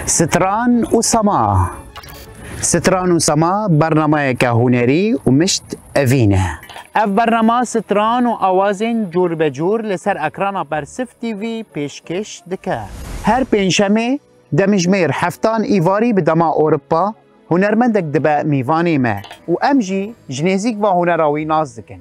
Stran û sema Stran û sema bernameyeke hunerî û mişt evîn e. Ev bernama stran û awazên cûrbecûr li ser ekrana Bersif TV pêşkêş dike. Her pêncşemê demijmêr heftan îvarî bi dema Ewropa hunermendek dibe mîvanê me û em jî ji nêzîk va hunera wî nas dikin.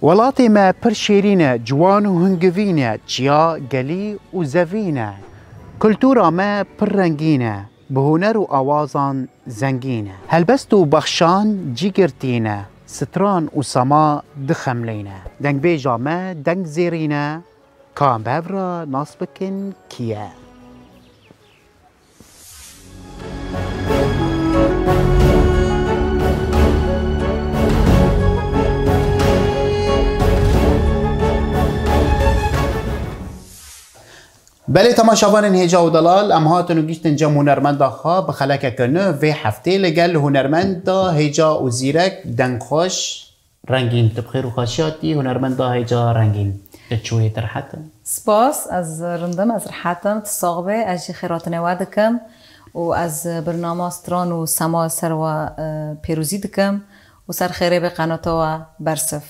Welatê me pir şêrîn e, ciwan û hingivîn e, çiya, gelî û zevîn e. Kultura me pir rengîn e, bi huner û awazan zengîn e. Helbest û bexşan cî girtîn e, stran û sema dixemlîn e. Dengbêja me deng zêrîn e, ka em bi hev re nas bikin kî ye. Belê tema şavanên hêja û delal em hatin û gîştin cem hunermenda xwe bi xelekeke nû vê heftê li gel hunermenda hêja û zîrek dengxweş Rengîn, tu bi xêr û xaşî hatî hunermenda hêja rengîn. Tu çûyî tu rihet î? Spas, ez rind im, ez rihet im, tu sax bî, ez jî xêratinê we dikim û ez birnama Stran û Sema li ser we pêrozî dikim û ser xêrê bê qenata we bersiv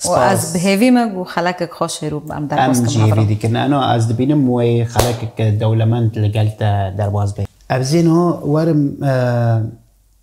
û ez bi hêvî me ku xelekek xweş hêr û em derbas bikin. Em jî hêvî dikin ena ez dibînim wê xelekek dewlemend li gel te derbas bê. Ev zêna werim.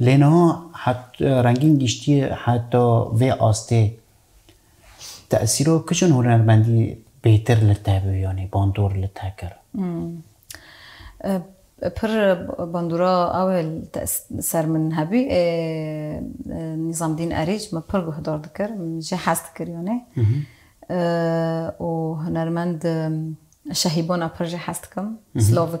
Lê niha het rengîn giştiye heta vê astê. Tesîra kişên hunermendî bêtir li te bû yanî bandor li te kir? Pir bandora ew ê li ser min hebû. Nîzamdîn Erîc min pir guhdar dikir. Min jê hez dikir yanî. Û hunermend Şehîbana pir jê hez dikim. Slavik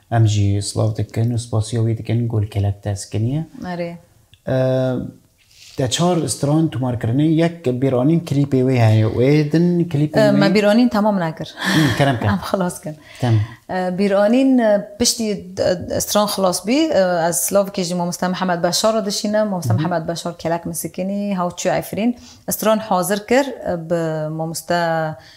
Em jî silav dikin û spasiya wî dikin ku li kelek dest keniye. Erê. Te çar stran tomar kirine yek bîranîn klîpê wê heye wê din klîpê wê. Me bîranîn tamam nekir. Kerem kir. Em xilas kir. Tamam. Bîranîn piştî stran xilas bî ez silavkê jî mamoste Mihemed Beşar re dişînim. Mamoste Mihemed Beşar kelek misikînî hewçû Efrîn stran hazir kir bi mamoste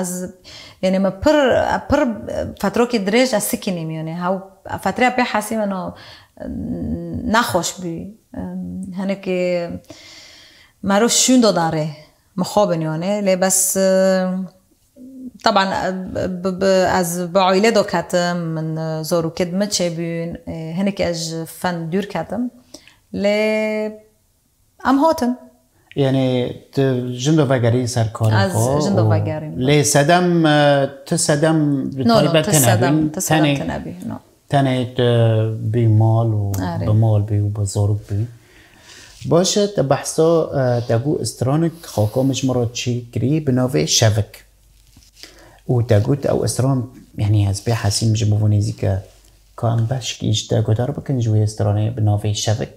Ez yanê me pir pir fetrokê dirêj ez sikînîm yanê hew fetreya pê hesî min nexweş bû hinekê merov şûndo da rê mixabin yanê lê bes teban ez bi aîle do ketim min zarokê di min çêbûn hinekê ez ji fen dûr ketim lê Em hatin. Yanî tu jin de vegerîn ser karê xwe? Ez jin de vegerîn. Lê sedem tu sedem bi taybet tenebîn. Tu sedem tenebî. Tenê tu bî mal û bi mal bî û bi zarok bî. Baş e te behsa te gû stranik xaka min ji min re çî kirî bi navê Şevik. Û te got ew stran yanî ez pê hesîm ji bo nêzîk e. Ka em beşkî ji te guhdar bikin ji wê stranê bi navê Şevik?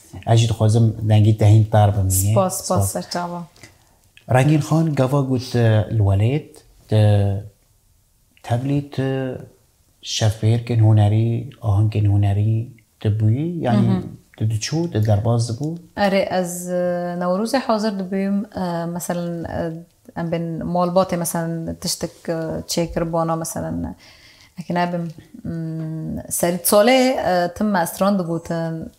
Ez jî dixwazim dengî te hîn per bimînî. Spas, spas serçava. Rengîn Xan gava got li welêt di tevlî tu şevfêrkên hunerî, ahengên hunerî tu bûyî yanî tu diçû, tu derbas dibû? Erê ez Newrozê hazir dibûm meselen em bên malbatê meselen tiştek çêkiribûna meselen eke nebim serî salê tim me estran digotin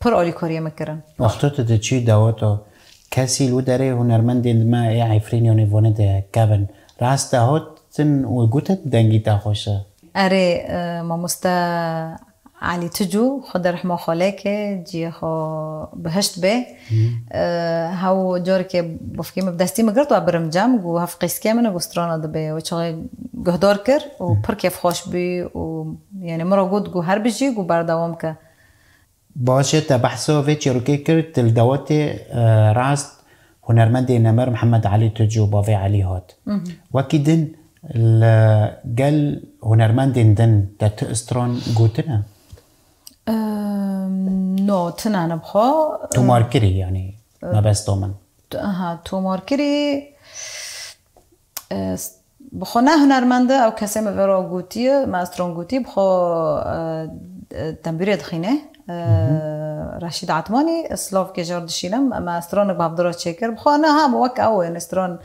Pir alîkariyê min kirin. Wexto tu diçî daweta kesî li wî derê hunermendên di me ê Efrînyanê vane de kevin. Rast de hatin û gotin dengî te xweş e. Erê mamoste Elî Tucu xwe di rihma xwe leke, ciyê xwe bihişt bê. Hew carekê bavkê min bi destî min girt we birim cem got hev qîzkê min e got strana dibe. Wê çaxê guhdar kir û pir kêfxweş bû û yanê min re got got herbijî got berdewam ke. Baje te behsa vê çîrokê kir di li dawetê rast hunermendê nemir Mihemed Elî Tucu bavê Elî hat. Wekî din li gel hunermendên din te tu stran gotine? No, tune ne bi xwe. Tomarkirî yanî mebesta min. Aha, tomarkirî. Bi xwe ne hunermend e, ew kesê min vê ro gotiye, maestron gotî bi xwe tembûrê dixînê. Reşîd Etmanî, Slovkê jor dişînim, maestronik bav di ro çêkir. Bi xwe ne ha bi wek ew enîstron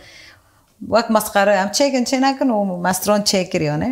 wek mesqere em çêkin çê nekin û maestron çêkir yanê.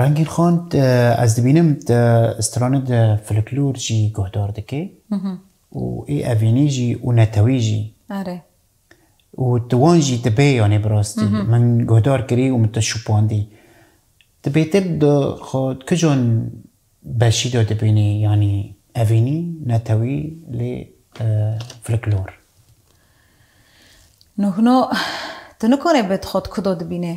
Rengîn Xan ez dibînim stranê di filiklor jî guhdar dike û ê evînî jî û netewî jî û tu wan jî dibe yanê bi rastî min guhdar kirî û min te şupandî. Ti bêtir di kijan beşî de dibînî yanî evînî, netewî lê filiklor? Nuhno tu nikarê bi xwe di ku de dibînê.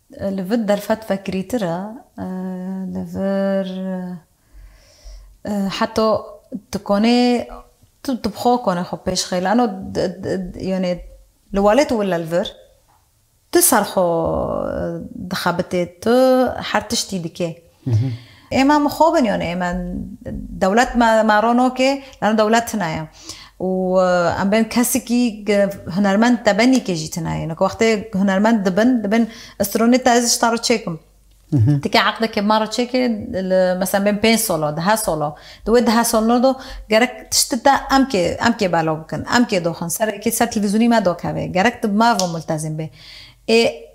Li vir derfet vekirîtir e. Li vir heta tu konê tu tu bi xwe konê xwe pêş xê lano yanê li walê tu wile li vir tu ser xwe dixebitê tu her tiştî dikê. Êma min xo bin yon ê me dewlet me me rono kê lano dewlet tine ye û em bên kesikî hunermend te benî kê jî tine ye. Niko wextê hunermend dibin dibên stronê te ez ji ta re çêkim. Ti kê eqde kê ma re çêkê li mesela bên pênc solo dihe solo di wê dihe solno do gerek tişti te em kê em kê belo bikin em kê doxin ser kê ser televîzyonî me dokeve gerek di me re multezîm bê. Ê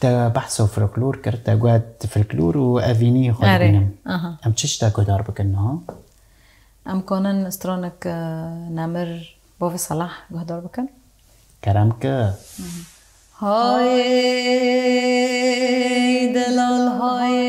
Te behsa folklor kir, te got folklor û evînî xwe dibînim. Em çi tiştek guhdar bikin niha? Em kanin stranek Nemir Bavê Selah guhdar bikin? Kerem ki. Hayê delal hayê.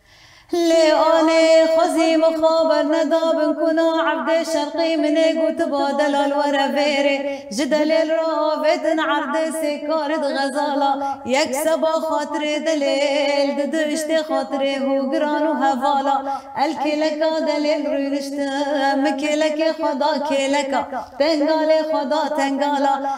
Lê anê xwezî min xwe bernedabin ku na Evdê Şerqî min ê gotiba delal were vêrê. Ji delêl re avêtin erdê sê karî di xezala. Yek seba xatirê delêl di du iştê xatirê hogiran û hevala. El kêleka delêl rûniştin min kêlekê xwe da kêleka. Tengalê xwe da tengala.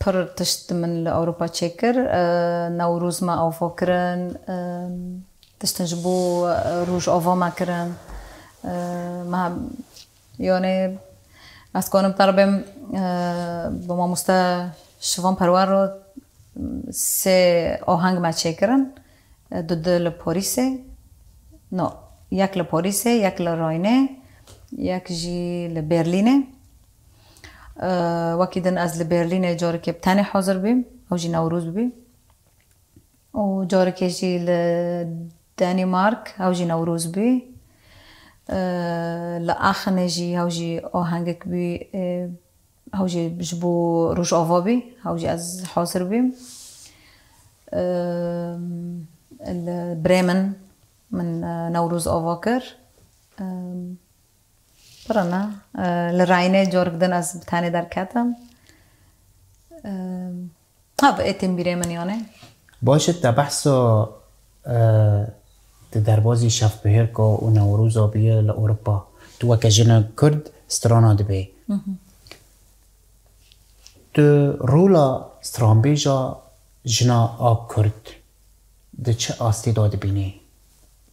Pir tişt min li Ewropa çêkir. Newrûz me avo kirin. Tiştin ji bo roj ava me kirin. Me yanê ez dikarim per bêm bi mamoste Şivan Perwer re sê aheng me çêkirin. Du di li Parîsê, no yek li Parîsê, yek li Raynê, yek jî li Berlînê. Wekî din ez li Berlînê carekê bi tenê hazir bûm, ew jî Newrûz bû û carekê jî li Danîmark ew jî Newrûz bû. Li Axinê jî ew jî ahengek bû ew jî ji bo Rojava bû, ew jî ez hazir bûm. Li Bremen min Newrûz ava kir. Pira me li Rayne corg din ez bi tenê derketim. Ha bi êtên bîrê min yanê. Baş e te behsa di derbazî şevbihêrka û Newroza bûye li Ewropa. Tu weke jinek Kurd strana dibê. Tu rola stranbêja jina a Kurd di çi astê de dibînî?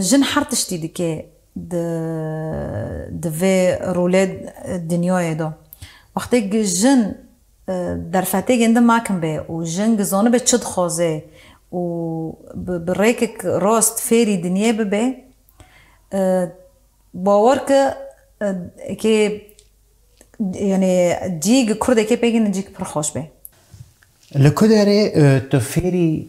Jin her tiştî dike di di vê rûlê dinyayê de. Wextê gi jin derfetêgên di makim be û jin gi zanibe çi dixwaze û bi bi rêkek rast fêrî dinyê bibe, bawer ki eke yanê cî gi kurdekê pêk ene cî pir xweş be. Li ku derê tu fêrî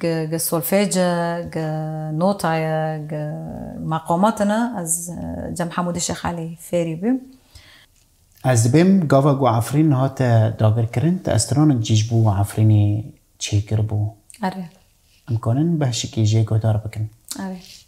Gi gi solfêce, gi notaye, gi meqamate ne ez Cem Hemûdî Şêx Elî fêrî bûm. Ez dibêm gava ku Efrîn hate dagirkirin te estiranek cî ji bo Efrînê çêkiribû. Erê. Em karin behşikî jê guhdar bikin. Erê.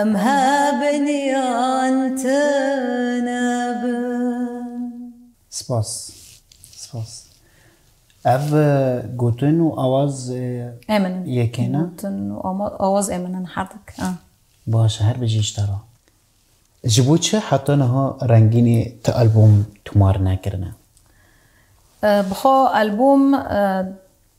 Em hebeniyan tune bin. Spas. Spas. Ev gotin û awaz e min in. Yekê ne? Gotin û awaz e min in her dik. Baş e, her bijî ji te re. Ji bo çi heta niha rengînê ti albûm tomar nekirine? Bi xwe albûm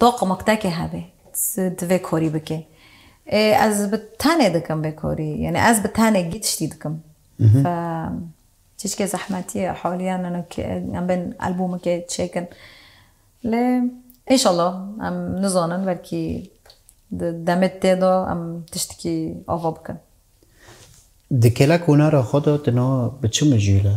Toqmek teke hebe tu vê korî bike. Ê ez bi tenê dikim vê korî. Yanî ez bi tenê gît ştî dikim. Fe çîçkê zehmetî ye haliyan nano kê em bên albûmekê çêkin. Lê înşallah em nizanin belkî di demê tê de em tiştekî ava bikin. Di kêla konara xwe de tu niha bi çi mijûl e?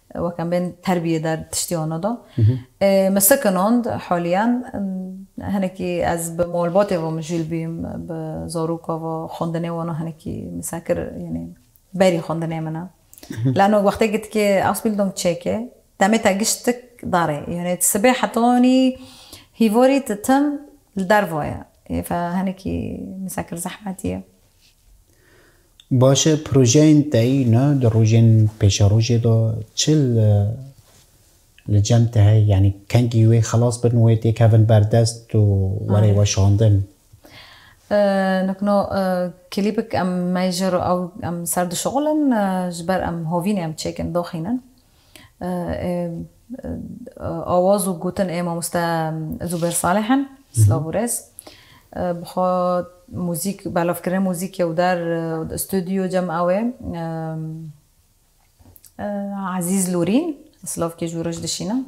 Wek em bên terbiyê der tiştî ono da. Min sekinand haliyan hinekî ez bi malbatê ve mijûl bîm, bi zaroka ve xwendinê wan hinekî misekir yanî berî xwendinê min e. Lano wextê gitkê Ausbildung çêkê demê te giş tik darê. Yanî ti sibê heta yanî hîvarî ti tim li derva ye. Hêf e hinekî misekir zehmetî ye. Baş e projeyên teyîna di rojên pêşerojê de çi li cem te heye? Yanî kengî wê xelas bin wê tê kevin berdest û were weşandin? Nikno klîpik em mejr û ew em ser dişuxulin ji ber em hovînê em çêkin doxînin. Awaz û gotin ê mamoste Zûber Salih in. Silav û rêz. Bixwe muzîk, belavkirina muzîkê û der studyo cem ew ê. Ezîz Lûrîn, silavkê ji we re ji dişînim.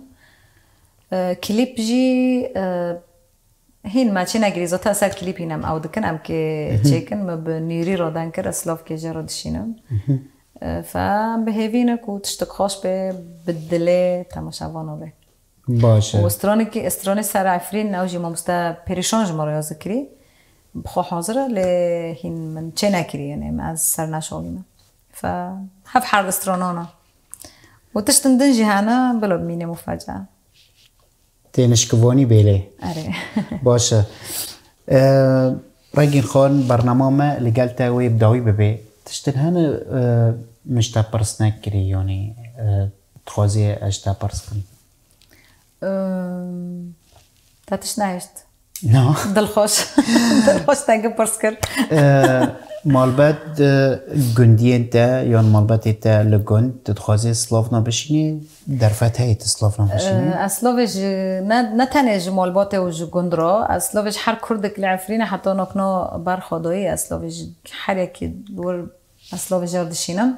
Klîp jî Hîn me çî nekirî zota ser klîp hîn em ew dikin em kê çêkin me bi nûrî re deng kir ez silavkê jê re dişînim fe em bi hêvî ne ku tiştik xweş bê bi dilê temaşevano bê Baş e. û stranê kî stranê ser efrîn ew jî mamoste perîşan ji me re ya zikirî bi xwe hazir e lê hîn min çê nekirî yanê me ez ser neşalîme fe hev herde stranan e û tiştin din jî hene bila bimînê mufeca. Tênişkivonî bêlê. Erê. Baş e. Rengîn Xan bernama me li gel te wê bi dawî bibê. Tiştin hene min ji te pirs nekirî yanî dixwazî ez ji te pirs bikim. Te tişt nehişt. Na. Dilxweş. Dilxweş te gi pirs kir. Malbet gundiyên te yan malbetê te li gund tu dixwazê Slavna bişînî derfet heyê tu Slavna bişînî? Ez Slavê ji ne ne tenê ji malbatê û ji gund re ez Slavê ji her kurdek li Efrînê heta nakna ber xwedoyê ez Slavê ji her yekî wir ez Slavê jar dişînim.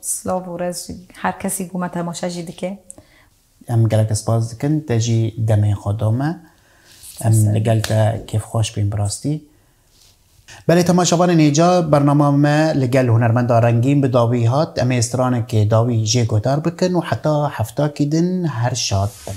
Silav û rez jî her kesî ku me temaşe jî dike. Em gelek spas dikin te jî demên xwe da me. Em li gel te kêfxweş bên bi rastî. Belê temaşevanên hêja bernama me li gel hunermenda Rengîn bi dawî hat. Em ê stranekê dawî jê guhdar bikin û heta hefta kî din her şad bin.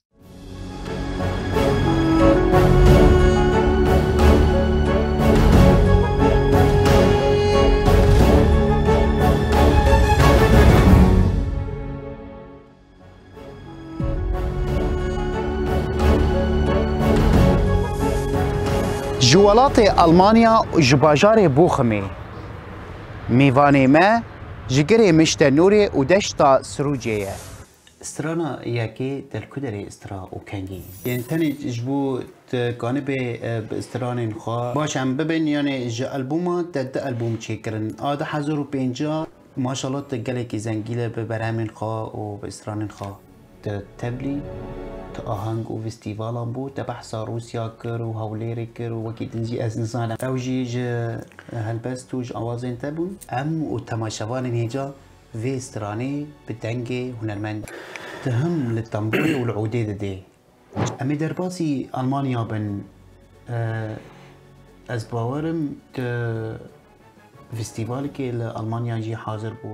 Ji welatê Almanya û ji bajarê Bochimê mêvanê me ji girê Mişte Nûrê û deşta Sirûcê ye. Strana yekê telkuderê stra û kengî yên tenê ji bo te kanibe bi stranên xwe baş em bibin yanê ji albûma te du albûm çêkirin a du hezar û pêncî maşallah te gelekî zengîle bi berhemên xwe û bi stranên xwe te tevlî tu aheng û vîstîvalan bû te behsa rûsya kir û hewlêrê kir û wekî din jî ez nizanim ew jî ji helbest û ji awazên te bûn em û temaşevanên hêja Vê stranê bi dengê hunermend tihim li temburê û li odê didê. Em ê derbasî Almanya bin. Ez bawerim tu fîstîvalekê li Almanya jî hazir bû.